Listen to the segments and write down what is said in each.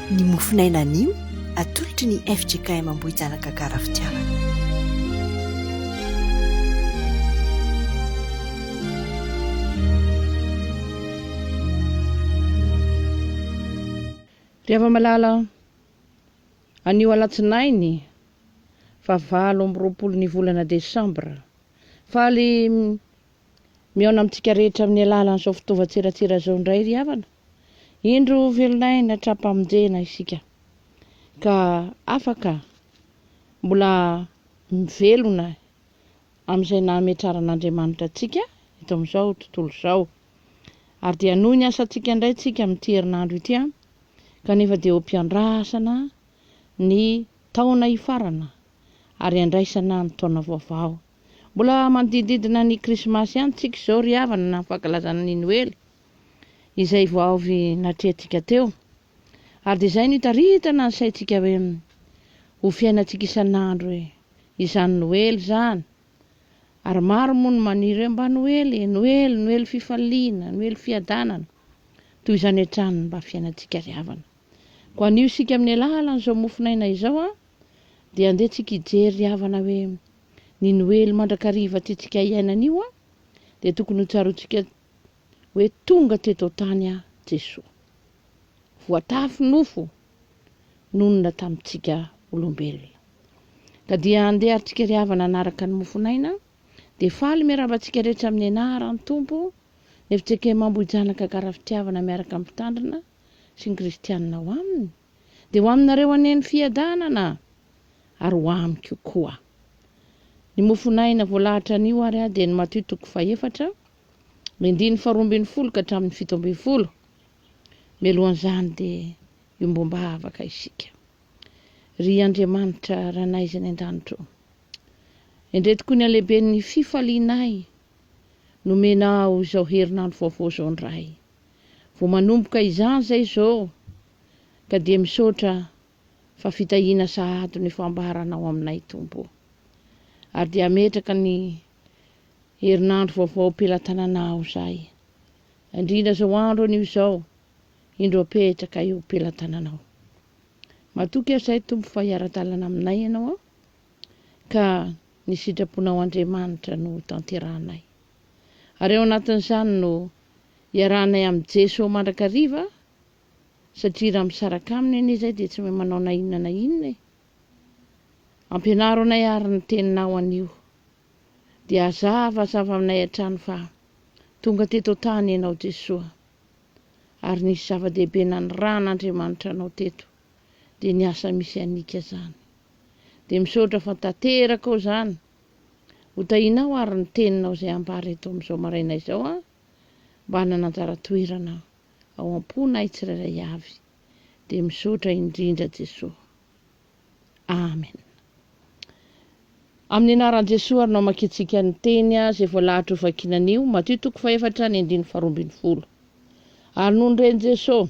Ny mofon'aina anio atolotry ny fjkm Ambohijanaka Garafitiavana. Ry hava-malala, anio alatsinainy faha valo amby roapolo ny volana desambra, faly Mihaona amintsika rehetra amin'ny alalan'izao fitaovan-tserasera izao indray ry havana. Indro velon'aina hatrampamonjena isika ka afaka mbola mivelona amin'izay nahametraran'Andriamanitra antsika eto amin'izao tontolo izao. Ary dia hanohy ny asantsika indray tsika amin'ity herinandro ity kanefa dia ho mpiandrasana ny taona hifarana ary handraisana ny taona vaovao. Mbola manodididina ny Krismasy ihany tsika izao ry havana na ny fankalazana ny Noely izay vao avy natrehantsika teo. Ary dia izay no itaritana ny saintsika hoe ho fiainantsika isan'andro izany Noely izany. Ary maro moa no maniry hoe mba Noely e, Noely, Noely fifaliana, Noely fiadanana. Toy izany hatrany ny mba fiainantsika ry havana. Koa anio isika amin'ny alalan'izao mofonaina izao dia andeha tsika hijery ry havana hoe ny noely mandrakariva tiantsika hiaina anio dia tokony ho tsaroantsika hoe tonga teto an-tany aho Jesoa. Voatafy nofo nonina tamintsika olombelona. Ka dia andeha ary tsika ry havana hanaraka ny mofonaina dia faly miarahaba antsika rehetra amin'ny anaran'ny Tompo ny fitsekemambohijanaka karafitiavana miaraka amin'ny mpitandrina sy ny kristianina ao aminy, dia ho aminareo anie ny fiadanana, ary ho amiko koa. Ny mofon'aina voalahatra anio ary aho dia ny Matio toko fahefatra, ny andininy faharoa ambin'ny folo ka hatramin'ny fito ambin'ny folo. Mialohan'izany dia iombom-bavaka isika. Ry Andriamanitra Ranay izay any an-danitra ô, endrey tokoa ny halehiben'ny fifalianay nomenao izao herinandro vaovao izao ny Ray. Vao manomboka izany zay zo ka dia misaotra fa fitahiana sahady ny fambaranao aminay Tompo o. Ary dia hametraka ny herinandro vaovao pelatananao zay. Indrindra zao andro anio zao indro apetraka eo pelatananao. Matoky aho zay Tompo fa hiara-dalana aminay ianao ka ny sitraponao Andriamanitra no hotanterahanay. Ary ao anatin'izany no iarahanay amin'i Jeso mandrakariva satria raha misaraka Aminy anie izay dia tsy mahay manao na inona na inona e. Ampianaro anay àry ny Teninao anio. Dia hazavazava aminay hatrany fa tonga teto an-tany Ianao Jesoa. Ary nisy zava-dehibe nanirahan'Andriamanitra Anao teto, dia ny asa misy an'ika izany. Dia misaotra fa tanterakao izany Ho tahinao ary ny teninao izay ambara eto amin'izao maraina izao an! Mba hanana anjara toerana ao am-ponay tsirairay avy dia misaotra indrindra Jesoa. Amen. Amin'ny anaran'i Jesoa ary namakiantsika ny teny izay voalahatra ho vakina anio, Matio toko fahefatra ny andininy faharoa ambin'ny folo. Ary nony ren'i Jesoa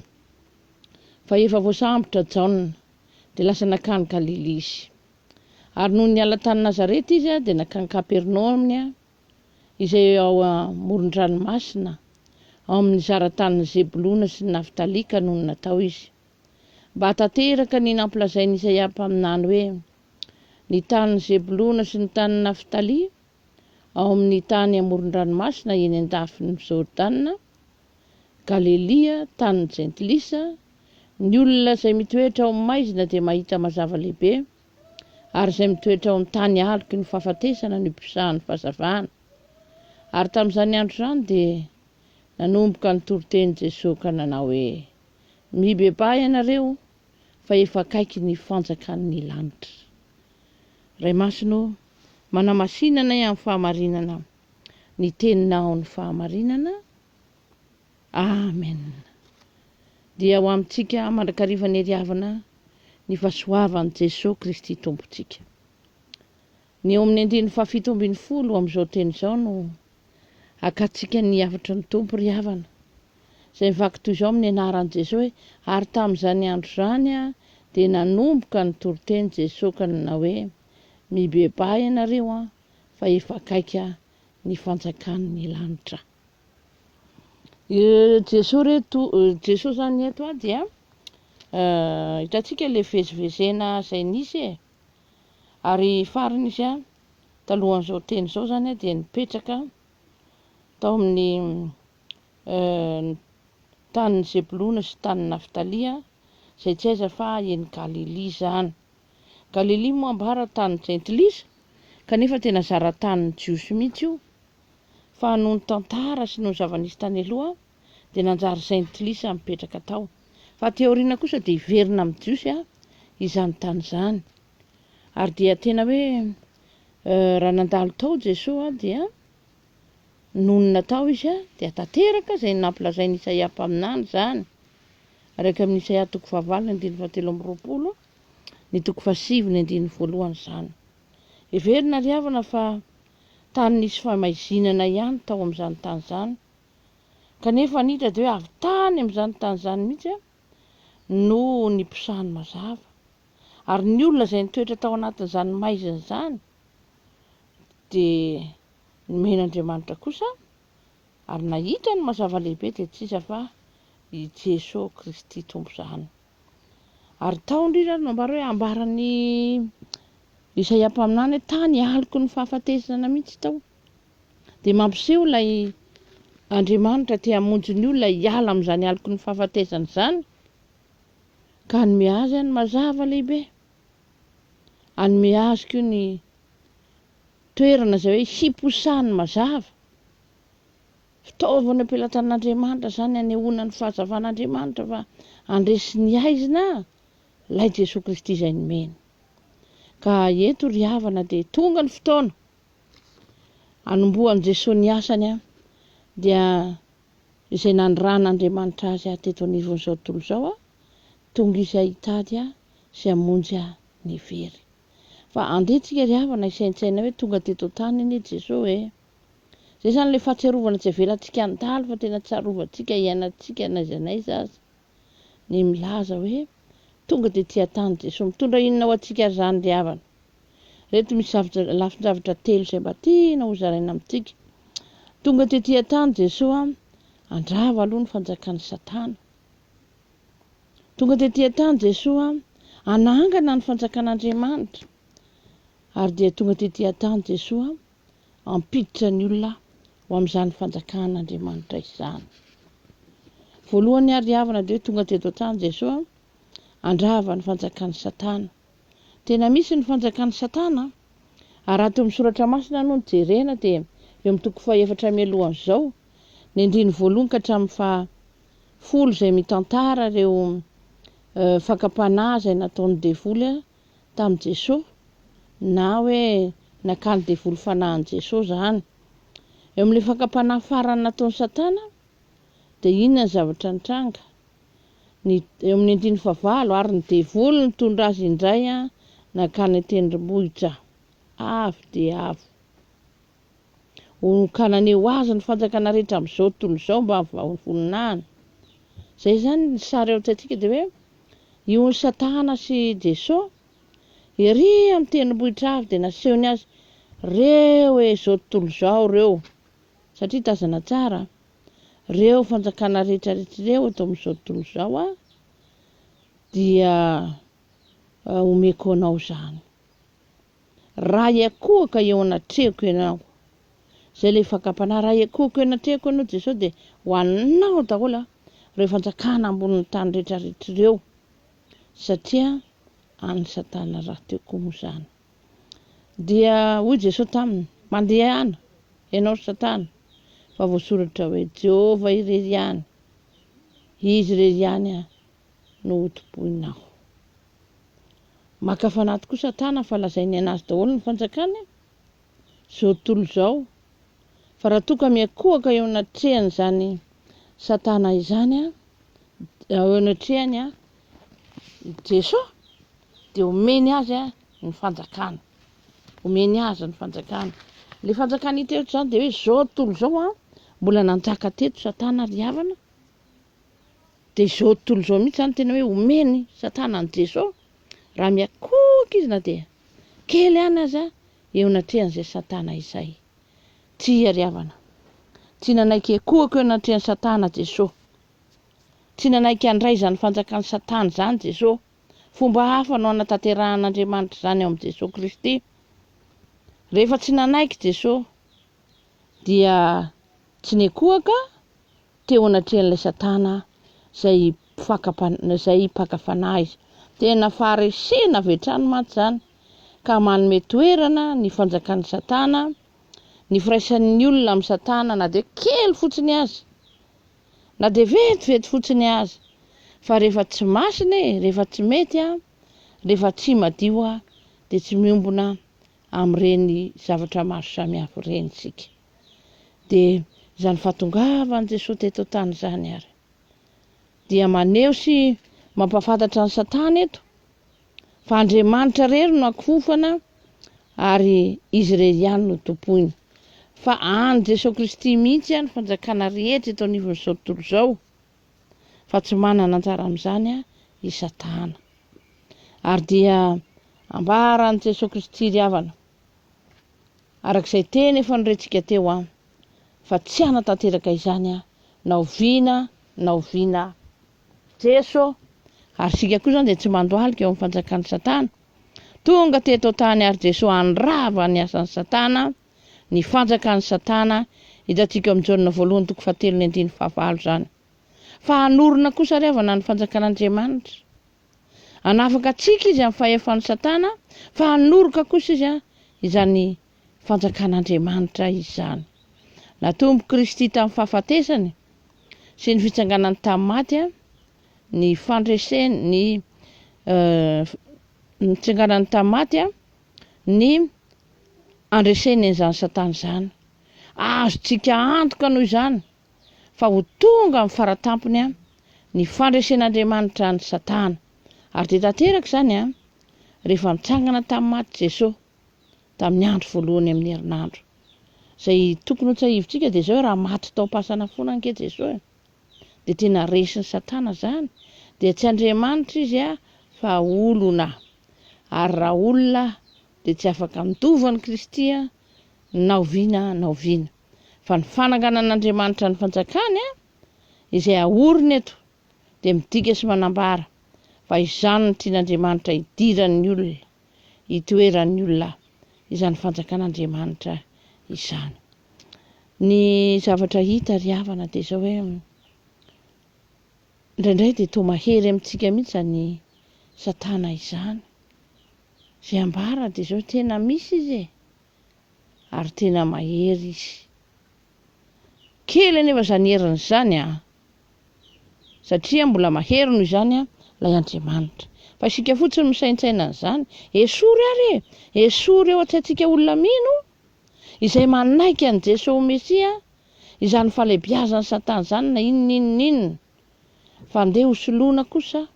fa efa voasambotra Jaona dia lasa nankany Galilia izy. Ary nony niala tany Nazareta izy dia nankany Kapernaomy, izay eo amoron-dranomasina, ao amin'ny zara tanin'i Zebolona sy ny Naftalia ka nony natao izy, mba hahatanteraka ny nampilazain'i Isaia mpaminany hoe, Ny tanin'i Zebolona sy ny tanin'i Naftalia, ao amin'ny tany amoron-dranomasina eny an-dafin'i Jordana, Galelia, tanin'ny Jentilisa, ny olona izay mitoetra ao maizina dia mahita mazava lehibe, ary izay mitoetra ao amin'ny tany aloky ny fahafatesana no iposahan'ny fahazavana. Ary tamin'izany andro izany dia nanomboka nitoriteny Jesoa ka nanao hoe, Mibebaha ianareo, fa efa akaiky ny fanjakan'ny lanitra. Ray Masina ô, manamasinanay amin'ny fahamarinana. ny teninao ny fahamarinana. Amen. Dia ho amintsika mandrakariva ny hery havana ny fahasoavan'i Jesoa Kristy Tompontsika. Ny eo amin'ny andininy fahafito ambin'ny folo amin'izao teny izao no akatsika ny hafatry ny Tompo ry havana. Izay mivaky toy izao amin'ny anaran'i Jesoa hoe ary tamin'izany andro izany a dia nanomboka ny toriteny Jesoa ka nanao hoe mibebaha ianareo a fa efa akaika ny fanjakan'ny lanitra. Jesoa re to, Jesoa zany eto a dia hitantsika le vezivezena zay nisy e, ary farany izy a talohan'izao teny izao zany a dia nipetraka tao amin'ny tanin'i Zebolona sy tanin'i Naftalia, zay tsy aiza fa eny Galilia zany. Galilia moa ambara tanin'ny jentilisa, kanefa tena zara tanin'ny Jiosy mihitsy io. Fa noho ny tantara sy noho ny zava-nisy tany aloha, dia nanjary jentilisa mipetraka tao. Fa aty aoriana kosa dia hiverina amin'ny Jiosy izany tany izany. Ary dia tena hoe raha nandalo tao Jesoa dia nonina tao izy dia tanteraka izay nampilazain'i Isaia mpaminany izany. Araika amin'i Isaia toko fahavalo ny andininy fahatelo amby roapolo. ny toko fahasivy ny andininy voalohany izany. Heverina ry havana fa tany nisy famaizinana ihany tao amin'izany tany izany, kanefa ny hita dia hoe avy tany amin'izany tany izany mihitsy no niposahan'ny mazava. Ary ny olona izay nitoetra tao anatin'izany maizina izany dia nomen'Andriamanitra kosa ary nahita ny mazava lehibe dia tsy iza fa i Jesoa Kristy Tompo izany. Ary tao indray izy ary nambara hoe ambaran'i Isaia mpaminany hoe tany ialoky ny fahafatesana mihitsy tao. Dia mampiseho ilay Andriamanitra te hamonjy ny olona hiala amin'izany aloky ny fahafatesana izany ka hanome azy any mazava lehibe. Hanome azy koa ny toerana izay hoe hiposahany mazava. Fitaovana ampelatan'Andriamanitra izany hanehoana ny fahazavan'Andriamanitra fa handresy ny haizina Ilay Jesoa Kristy izay nomeny. Ka eto ry havana dia tonga ny fotoana hanombohan'i Jesoa ny asany an, dia izay nanirahan'Andriamanitra azy aho teto anivon'izao tontolo izao an, tonga izy aho hitady aho sy hamonjy aho ny very. Fa andeha tsika ry havana hisaintsaina hoe tonga teto an-tany anie Jesoa e. Izay izany ilay fahatsiarovana tsy avelantsika handalo fa tena tsarovantsika iainantsika n'aiza n'aiza aza ny milaza hoe tonga dia tia tany Jesoa. Mitondra inona ho antsika ary izany ry havana? Ireto misy zavatra, lafin-javatra telo izay mba tiana hozaraina amintsika. Tonga dia tia tany Jesoa, handrava aloha ny fanjakan'i Satana. Tonga dia tia tany Jesoa, hanangana ny fanjakan'Andriamanitra. Ary dia tonga dia tia tany Jesoa, hampiditra ny olona ho amin'izany fanjakan'Andriamanitra izany. Voalohany niariavana dia hoe tonga teto an-tany Jesoa handrava ny fanjakan'i Satana. Tena misy ny fanjakan'i Satana? Ary raha teo amin'ny soratra masina no jerena dia eo amin'ny toko fahefatra mialohan'izao, ny andininy voalohany ka hatramin'ny fahafolo izay mitantara ireo eh, fakam-panahy izay nataon'ny devoly tamin'i Jesoa na hoe nakan'ny devoly fanahin'i Jesoa izany. Eo amin'ilay fakam-panahy farany nataon'i Satana dia inona ny zavatra nitranga? Ny, eo amin'ny andininy fahavalo, ary ny devoly nitondra azy indray nankany an-tendrombohitra avo dia avo. Honokanany ho azy ny fanjakana rehetra amin'izao tontolo izao mba hovoninahiny. Izay izany ny sary eo an-tsaintsika dia hoe io Satana sy Jeso ery amin'ny tendrombohitra avy dia nasehony azy reo hoe izao tontolo izao ireo satria tazana tsara reo fanjakana rehetra rehetra ireo eto amin'izao tontolo izao a dia omeko anao izany. Raha hiakohoka eo anatrehako ianao. Izay ilay fakam-panahy. Raha hiakohoka eo anatrehako ianao Jesoa dia ho anao daholo ireo fanjakana ambonin'ny tany rehetrarehetra ireo satria an'i Satana rahateo koa moa izany. Dia hoy Jesoa taminy, mandehana ianao ry Satana fa voasoratra hoe, Jehovah irery ihany, Izy irery ihany no hotompoina aho. Maka fanahy tokoa Satana fa lazainy anazy daholo ny fanjakany zao tontolo izao fa raha toa ka miankohoka eo anatrehan'izany Satana izany eo anatrehany Jesoa dia omeny azy ny fanjakana. Omeny azy ny fanjakana. Ilay fanjakana hita eto izany dia hoe izao tontolo izao mbola nanjaka teto Satana ry havana Dia izao tontolo izao mihitsy izany tena hoe omen'i satana an'i Jeso raha miakohoka izy na dia kely ihany aza eo anatrehan'izay satana izay. Tsy iariavana. Tsy nanaiky hiakohoka eo anatrehan'i satana Jeso. Tsy nanaiky handray izany fanjakan'i satana izany Jeso. Fomba hafa no hanatanterahan'Andriamanitra izany ao amin'i Jeso Kristy. Rehefa tsy nanaiky Jeso dia tsy niakohoka teo anatrehan'ilay Satana izay mpaka izay mpaka fanahy izy. Tena faharesena avy hatrany mantsy izany ka manome toerana ny fanjakan'i Satana, ny firaisan'ny olona amin'i Satana na dia kely fotsiny aza, na dia vetivety fotsiny aza, fa rehefa tsy masina e, rehefa tsy mety a, rehefa tsy madio a, dia tsy miombona amin'ireny zavatra maro samihafa ireny isika. dia izany fahatongavan'i Jesoa teto an-tany izany ary dia maneho sy mampahafantatra an'i Satana eto fa Andriamanitra irery no akofana ary izy irery ihany no tompoiny fa any Jesoa Kristy mihitsy any fanjakana rehetra eto anivon'izao tontolo izao fa tsy manana anjara amin'izany a i Satana ary dia ambaran'i Jesoa Kristy ry havana Araka izay teny efa norentsika teo an, fa tsy hanatanteraka izany an, na oviana na oviana Jeso. Ary isika koa izany dia tsy mandohalika eo amin'ny fanjakan'i Satana. Tonga teto an-tany ary Jeso handrava ny asan'i Satana, ny fanjakan'i Satana, hitantsika ao amin'ny Jaona voalohony toko fahatelo ny andininy fahavalo izany. Fa hanorina kosa ary havana ny fanjakan'Andriamanitra. Hanafaka antsika izy amin'ny fahefan'i Satana, fa hanoroka kosa izy izany Fanjakan'Andriamanitra izany. Natompo Kristy tamin'ny fahafatesany sy ny fitsanganany tamin'ny maty ny fandreseny ny nitsanganany tamin'ny maty ny andreseny an'izany Satana izany. Azontsika antoka noho izany fa ho tonga amin'ny faratampony ny fandresen'Andriamanitra an'i Satana. Ary dia tanteraka izany rehefa nitsangana tamin'ny maty Jesoa tamin'ny andro voalohany amin'ny herinandro. Izay tokony ho tsahivintsika dia izao hoe raha maty tao am-pasana foana ange Jesoa dia tena resin'i Satana izany, dia tsy Andriamanitra izy fa olona. Ary raha olona dia tsy afaka mitovy amin'i Kristy na oviana na oviana. Fa ny fananganan'Andriamanitra ny fanjakany izay ahorina eto dia midika sy manambara fa izany no tian'Andriamanitra hidiran'ny olona, hitoeran'ny olona izany fanjakan'Andriamanitra izany. Ny zavatra hita ry havana dia izao hoe indraindray dia toa mahery amintsika mihitsy izany Satana izany. Izay ambara dia izao tena misy izy e. ary tena mahery izy. Kely anefa izany heriny izany an! Satria mbola mahery noho izany an, ilay Andriamanitra. Fa isika fotsiny misaintsaina an'izany. Esory ary e! Esory eo an-tsaintsika olona mino, izay manaiky an'i Jesoa ho Mesia, izany fahalebiazan'i Satana izany na inona inona inona. Fa andeha hosoloina kosa.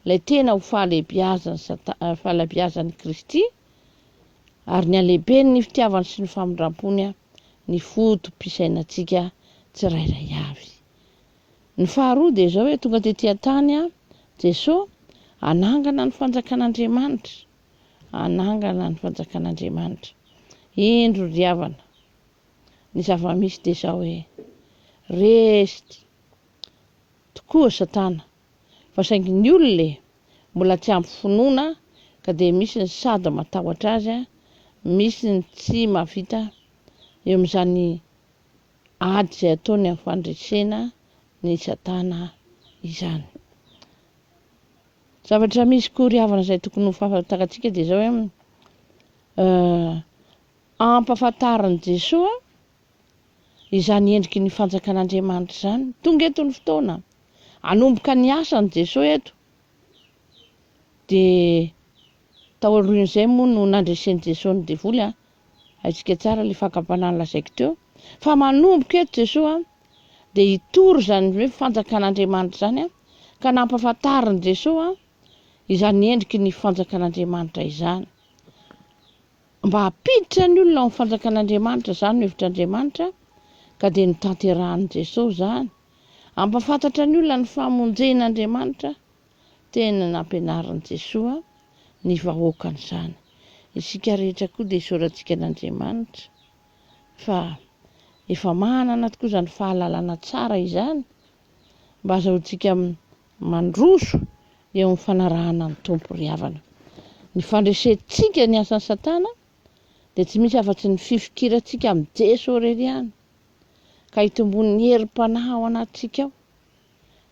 ilay tena ho fahalehibiazan'ny fahalehibiazan'i Kristy, ary ny halehiben'ny fitiavany sy ny famindrampony ny foto-pisainantsika tsirairay avy. Ny faharoa dia izao hoe tonga tety an-tany Jesoa hanangana ny fanjakan'Andriamanitra, hanangana ny fanjakan'Andriamanitra. Indro ry havana, ny zava-misy dia izao hoe, resty tokoa Satana, fa saingy ny olona e! mbola tsy ampy finoana ka dia misy ny sady matahotra azy, misy ny tsy mahavita eo amin'izany ady izay ataony amin'ny fandresena ny satana izany. Zavatra misy koa ry havana izay tokony ho fahafantarantsika dia izao hoe ampahafantarin'i Jesoa izany endriky ny fanjakan'Andriamanitra izany. Tonga eto ny fotoana, hanomboka ny asany Jesoa eto, dia tao aorian'izay moa no nandresen'i Jesoa ny devoly an, haintsika tsara ilay fakam-panahy nolazaiko teo, fa manomboka eto Jesoa dia hitory izany hoe fanjakan'Andriamanitra izany an, ka nampafantarin'i Jesoa izany endriky ny fanjakan'Andriamanitra izany. Mba hampiditra ny olona ao amin'ny fanjakan'Andriamanitra, izany no hevitr'Andriamanitra, ka dia notanterahin'i Jesoa izany. Hampafantatra ny olona ny famonjen'Andriamanitra, tena nampianarin'i Jesoa ny vahoakany izany. Isika rehetra koa dia isaorantsika an'Andriamanitra fa efa manana tokoa izany fahalalana tsara izany mba azahoantsika Mandroso eo amin'ny fanarahana ny Tompo ry havana. Ny fandresentsika ny asan'i Satana dia tsy misy afa-tsy ny fifikirantsika amin'i Jeso irery ihany, ka hitomboan'ny herim-panahy ao anatintsika ao.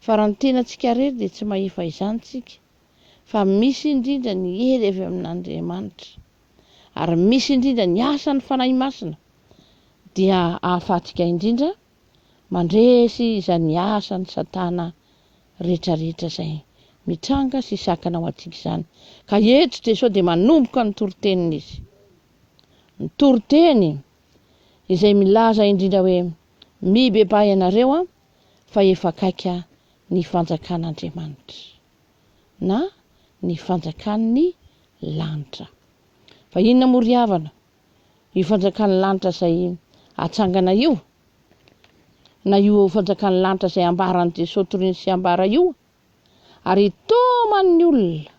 Fa raha ny tenantsika irery dia tsy mahefa izany isika, fa misy indrindra ny hery avy amin'Andriamanitra, ary misy indrindra ny asan'ny Fanahy Masina, dia ahafahantsika indrindra Mandresy izay miasa ny satana rehetra rehetra izay mitranga sy sakana ho antsika izany. Ka eto Jesosy dia manomboka ny toriteniny izy. Ny toriteny izay milaza indrindra hoe mibebaha ianareo fa efa akaika ny fanjakan'Andriamanitra na ny fanjakan'ny lanitra. Fa inona moa ry havana? io fanjakan'ny lanitra izay hatsangana io, na io fanjakan'ny lanitra izay ambaran'i Jesoa toriny sy ambara io, ary itaoman'ny olona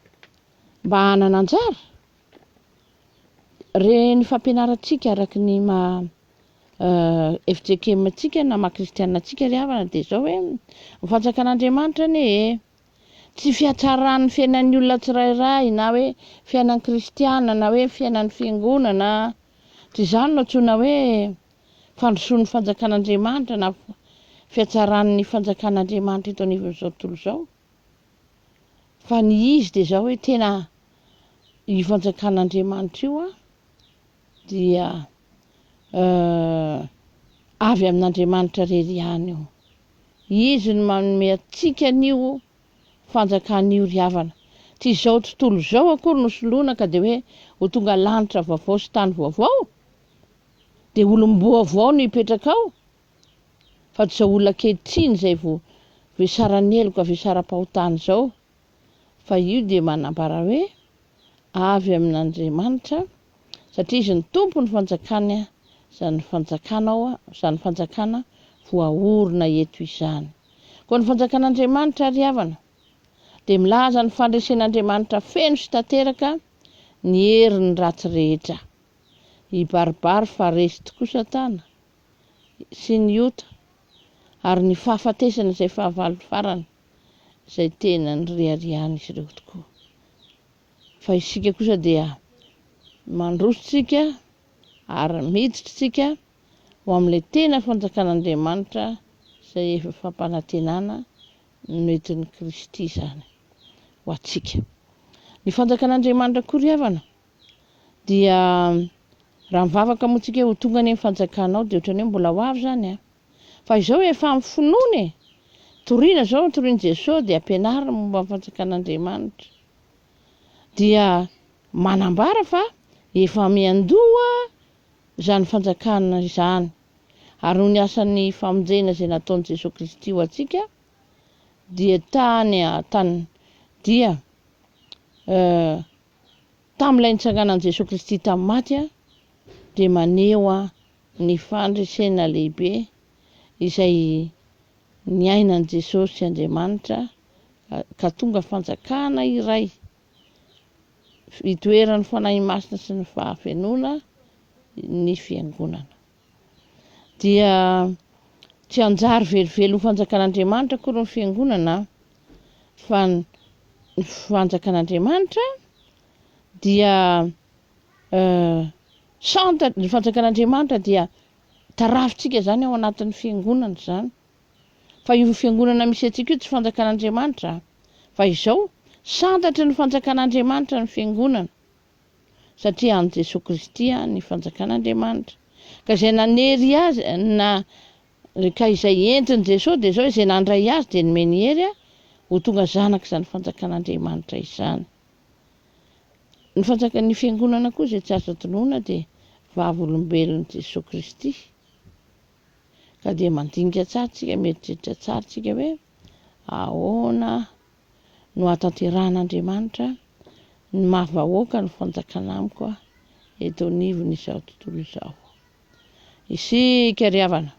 mba hanana anjara, re ny fampianarantsika araka ny maha FJKM-ntsika na maha Kristianina antsika ry havana dia izao hoe, ny fanjakan'Andriamanitra anie e! Tsy fiatsaran'ny fiainan'ny olona tsirairay na hoe fiainan'ny kristiana na hoe fiainan'ny fiangonana. Tsy izany no antsoina hoe fandrosoan'ny fanjakan'Andriamanitra na fiatsaran'ny fanjakan'Andriamanitra eto anivon'izao tontolo izao. Fa ny izy dia izao hoe tena io fanjakan'Andriamanitra io an. dia avy amin'Andriamanitra irery ihany io. Izy no manome antsika an'io fanjakana io ry havana. Tsy izao tontolo izao akory no soloina ka dia hoe ho tonga lanitra vaovao sy tany vaovao, dia olom-boavao no hipetraka ao, fa tsy izao olona ankehitriny izay voasaran'ny heloka, voasaram-pahotana izao. fa io dia manambara hoe avy amin'Andriamanitra satria izy ny tompo ny fanjakany izany fanjakanao izany fanjakana voaorina eto izany koa ny fanjakan'Andriamanitra ry havana dia milaza ny fandresen'Andriamanitra feno sy tanteraka ny herin'ny ratsy rehetra i baribary fa resy tokoa satana sy ny ota ary ny fahafatesana izay fahavalony farany izay tena niriharihan'izy ireo tokoa. Fa isika kosa dia mandroso tsika ary miditra tsika ho amin'ilay tena fanjakan'Andriamanitra izay efa fampanantenana noentin'i Kristy izany ho antsika. Ny fanjakan'Andriamanitra koa ry havana dia raha mivavaka moa tsika ho tonga anie ny fanjakanao dia ohatran'ny hoe mbola ho avy zany an! Fa izao efa amin'ny finoana e! Toriana zao ny torian'i Jesoa dia ampianarina momba ny fanjakan'Andriamanitra. Dia manambara fa efa miandoha izany fanjakana izany. Ary noho ny asan'ny famonjena izay nataon'i Jesoa Kristy ho antsika dia tany tany dia eh, Tamin'ilay nitsanganan'i Jesoa Kristy tamin'ny maty dia maneho ny fandresena lehibe izay niainan'i Jesosy Andriamanitra ka tonga fanjakana iray itoeran'ny Fanahy Masina sy ny fahafenoana ny Fiangonana. dia tsy hanjary velively ho fanjakan'Andriamanitra akory ny fiangonana fa ny fanjakan'Andriamanitra dia eh, santa ny fanjakan'Andriamanitra dia tarafintsika izany ao anatin'ny fiangonana izany fa io fiangonana misy antsika io tsy fanjakan'Andriamanitra fa izao santatry ny fanjakan'Andriamanitra ny fiangonana satria an'i Jesoa Kristy ny fanjakan'Andriamanitra, ka izay nanery Azy, na, ka izay entin'i Jesoa dia izao, izay nandray Azy dia nomeny hery ho tonga zanak'izany fanjakan'Andriamanitra izany. Ny fanjakan'ny Fiangonana koa izay tsy azo adinoina dia vavolombelon'i Jesoa Kristy. Ka dia mandinika tsara tsika, mieritreritra tsara tsika hoe ahoana no hahatanterahan'Andriamanitra ny maha vahoaka ny fanjakana amiko eto anivon'izao tontolo izao. Isika ry havana,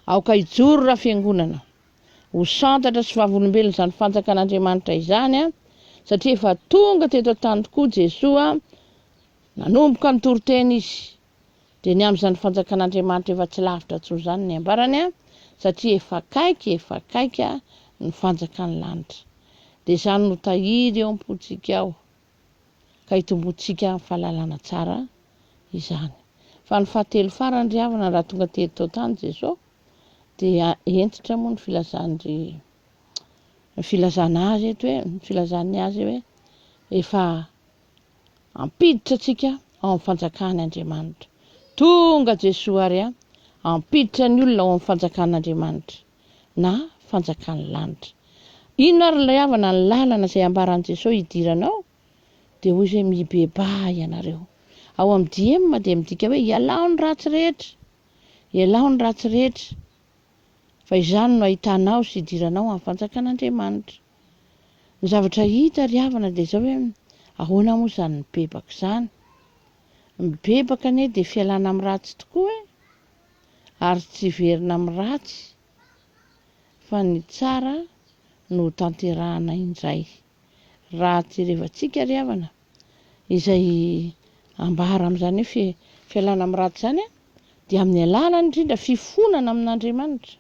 aoka hijoro raha fiangonana, ho santatra sy vavolombelona izany fanjakan'Andriamanitra izany, satria efa tonga teto an-tany tokoa Jesoa, nanomboka nitoriteny izy dia ny amin'izany fanjakan'Andriamanitra efa tsy lavitra intsony izany ny ambarany an, satria efa akaiky efa akaiky an ny fanjakan'ny lanitra. Dia izany no tahiry eo am-pontsika ao ka hitomboantsika amin'ny fahalalana tsara izany. Fa ny fahatelo farany ry havana raha tonga tery tao tany Jesosy dia hentitra moa ny filazany ry ny filazana azy eto hoe ny filazany azy hoe efa Hampiditra antsika ao amin'ny fanjakan' Andriamanitra. Tonga Jesoa ary a! Hampiditra ny olona ao amin'ny fanjakan' Andriamanitra, na fanjakan'ny lanitra. Inona ary ilay havana ny lalana izay ambaran'i Jesoa hidiranao? Dia hoy izy hoe mibebaha ianareo. Ao amin'ny DM dia midika hoe ialao ny ratsy rehetra, ialao ny ratsy rehetra, fa izany no hahitanao sy hidiranao amin'ny fanjakan' Andriamanitra. Ny zavatra hita ry havana dia izao hoe ahoana moa izany mibebaka izany? Mibebaka anie dia fialana amin'ny ratsy tokoa e! Ary tsy hiverina amin'ny ratsy fa ny tsara no ho tanterahana indray. Raha jerevantsika ry havana izay ambara amin'izany hoe fialana amin'ny ratsy izany dia amin'ny alalan'ny indrindra fifonana amin'Andriamanitra.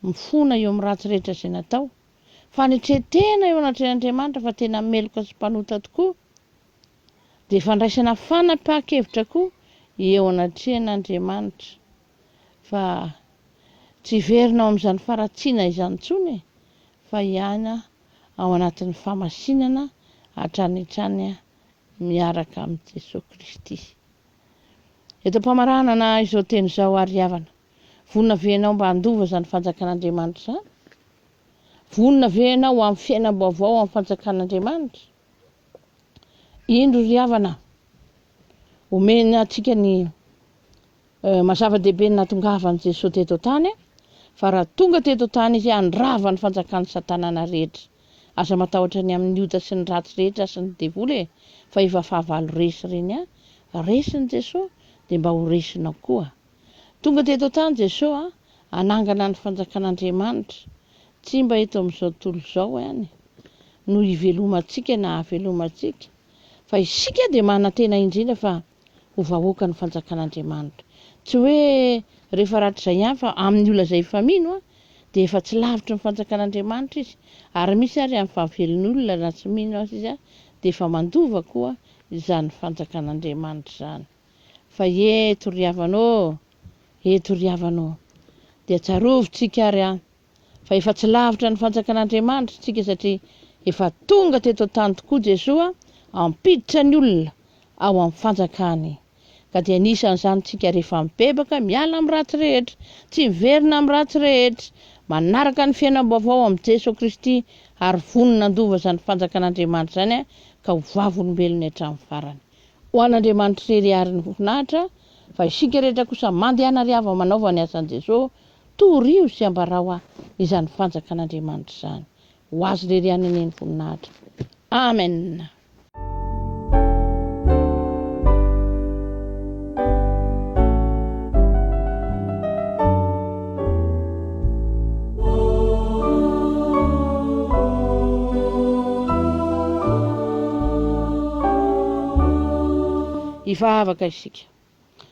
Mifona eo amin'ny ratsy rehetra izay natao. Fanetren-tena eo anatrehan'Andriamanitra fa tena meloka sy mpanota tokoa, dia fandraisana fanapahan-kevitra koa eo anatrehan'Andriamanitra. Fa tsy hiverina ao amin'izany faharatsiana izany intsony e, fa hiaina ao anatin'ny famasinana hatrany hatrany miaraka amin'i Jesoa Kristy. Eto am-pamaranana izao teny izao ary havana. Vonona ve ianao mba handova izany Fanjakan'Andriamanitra izany? Vonona ve ianao ho amin'ny fiainam-baovao amin'ny Fanjakan'Andriamanitra? Indro ry havana, omena antsika ny eh, mazava-dehibe ny natongavan'i Jesoa teto an-tany, fa raha tonga teto an-tany izy handrava ny fanjakan'i Satanana rehetra. Aza matahotra ny amin'ny ota sy ny ratsy rehetra asan'ny devoly e, fa efa fahavalo resy ireny a. Resin'i Jesoa, dia mba ho resinao koa. Tonga teto an-tany Jesoa hanangana ny fanjakan'Andriamanitra, tsy mba eto amin'izao tontolo izao ihany no hivelomantsika na havelomantsika, fa isika dia manantena indrindra fa ho vahoakan'ny fanjakan'Andriamanitra. Tsy hoe rehefa rahatrizay ihany fa amin'ny olona izay efa mino dia efa tsy lavitry ny fanjakan'Andriamanitra izy, ary misy ary amin'ny fahavelon'olona raha tsy mino azy izy dia efa mandova koa izany fanjakan'Andriamanitra izany. fa eto ry havana ô, eto ry havana ô. Dia tsarovintsika ary an, fa efa tsy lavitra ny fanjakan'Andriamanitra isika satria efa tonga teto an-tany tokoa Jesoa hampiditra ny olona ao amin'ny fanjakany. Ka dia anisan'izany isika rehefa mibebaka miala amin'ny ratsy rehetra, tsy miverina amin'ny ratsy rehetra, manaraka ny fiainam-baovao amin'i Jeso Kristy ary vonona handova izany fanjakan'Andriamanitra izany ka ho vavolombelony hatramin'ny farany. ho an'Andriamanitra irery ary ny voninahitra, fa isika rehetra kosa mandehana ry havana manaova ny asan'i Jesoa, torio sy ambarao ahy izany fanjakan'Andriamanitra izany. Ho Azy irery ihany anie ny voninahitra. Amen. Hivavaka isika.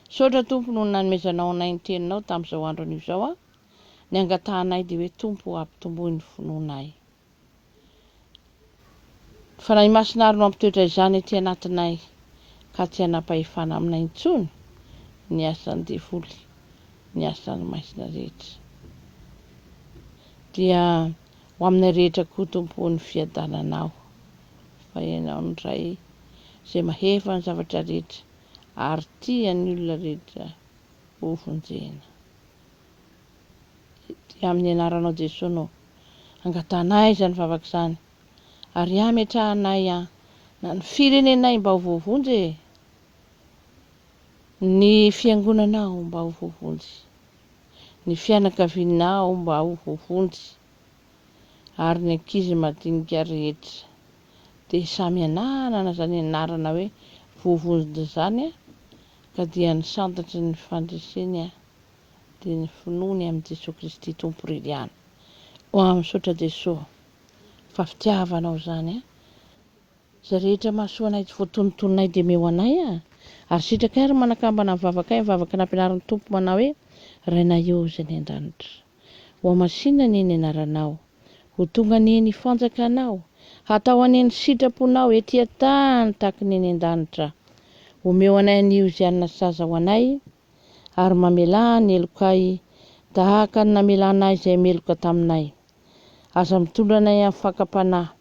Misaotra Tompo noho ny nanomezanao anay ny Teninao tamin'izao andron'io izao a. Ny angatahanay dia hoe Tompo o, ampitomboy ny finoanay. Fanahy Masina ary no hampitoetra izany aty anatinay ka tsy hanam-pahefana aminay intsony ny asan'ny devoly, ny asan'ny maizina rehetra. Dia ho aminay rehetra koa Tompo o ny fiadananao fa Ianao no Ray izay mahefa ny zavatra rehetra ary tia ny olona rehetra hovonjena. dia amin'ny anaranao Jesoa no angatahanay izany vavaka izany ary hametrahanay an na ny firenenay mba ho voavonjy e! ny fiangonanao mba ho voavonjy, ny fianakavianao mba ho voavonjy ary ny ankizy madinika rehetra dia samy hananana izany anarana hoe voavonjy izany ka dia ny santatry ny fandreseny an! dia ny finoany amin'i Jesoa Kristy Tompo Riliana oa misaotra Jesoa fa fitiavanao izany a izay rehetra mahasoa anay tsy voatonotononay dia meo anay a ary sitrakay ary manakambana ny vavakay ny vavaka nampianarin'ny Tompo manao hoe Rainay ô izay any an-danitra oa masinina anie ny anaranao ho tonga anie ny fanjakanao hatao anie ny sitraponao ety an-tany tahaka ny any an-danitra omeo anay anio izay hanana saza ho anay ary mamelà ny helokay tahaka ny namelanay izay meloka taminay. Aza mitondra anay amin'ny fakam-panahy,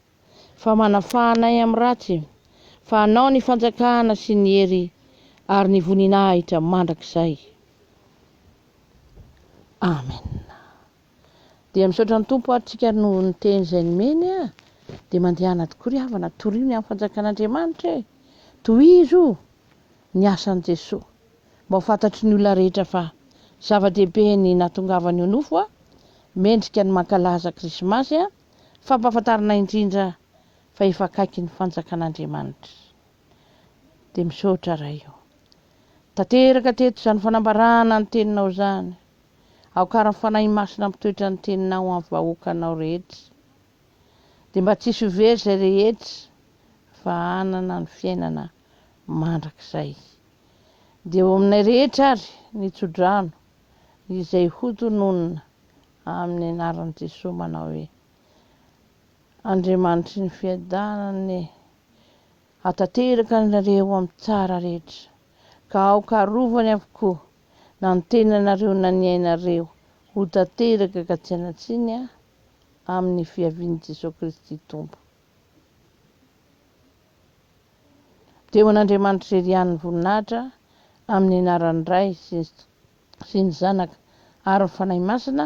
fa manafaha anay amin'ny ratsy, fa Anao ny fanjakana sy ny hery ary ny voninahitra mandrakizay. Amena. Dia misaotra ny Tompo ary tsika ary noho ny teny izay nomeny a! Dia mandehana tokoa ry havana, torio ny amin'ny fanjakan'Andriamanitra e! Tohizo ny asan'i Jesoa! Mba ho fantatry ny olona rehetra fa zava-dehibe ny nahatongavany eo nofo a! Mendrika ny mankalaza Krismasy a! Fampahafantarana indrindra fa efa akaiky ny fanjakan'Andriamanitra! Dia misaotra Ray ô! Tanteraka teto izany fanambarana ny teninao izany! Aoka ary ny Fanahy Masina hampitoetra ny Teninao ho an'ny vahoakanao rehetra, dia mba tsy hisy ho very izay rehetra fa hanana ny fiainana mandrakizay. Dia eo aminay rehetra ary ny tsodrano izay hotononina amin'ny anaran'i Jesoa manao hoe, Andriamanitry ny fiadanana e, hatanteraka anareo amin'ny tsara rehetra, ka aoka arovany avokoa na ny tenanareo na ny ainareo ho tanteraka ka tsy hanan-tsiny a amin'ny fiavian'i Jesoa Kristy Tompo. Dia ho an'Andriamanitra irery ihany ny voninahitra amin'ny anaran'ny Ray sy ny Zanaka ary ny Fanahy Masina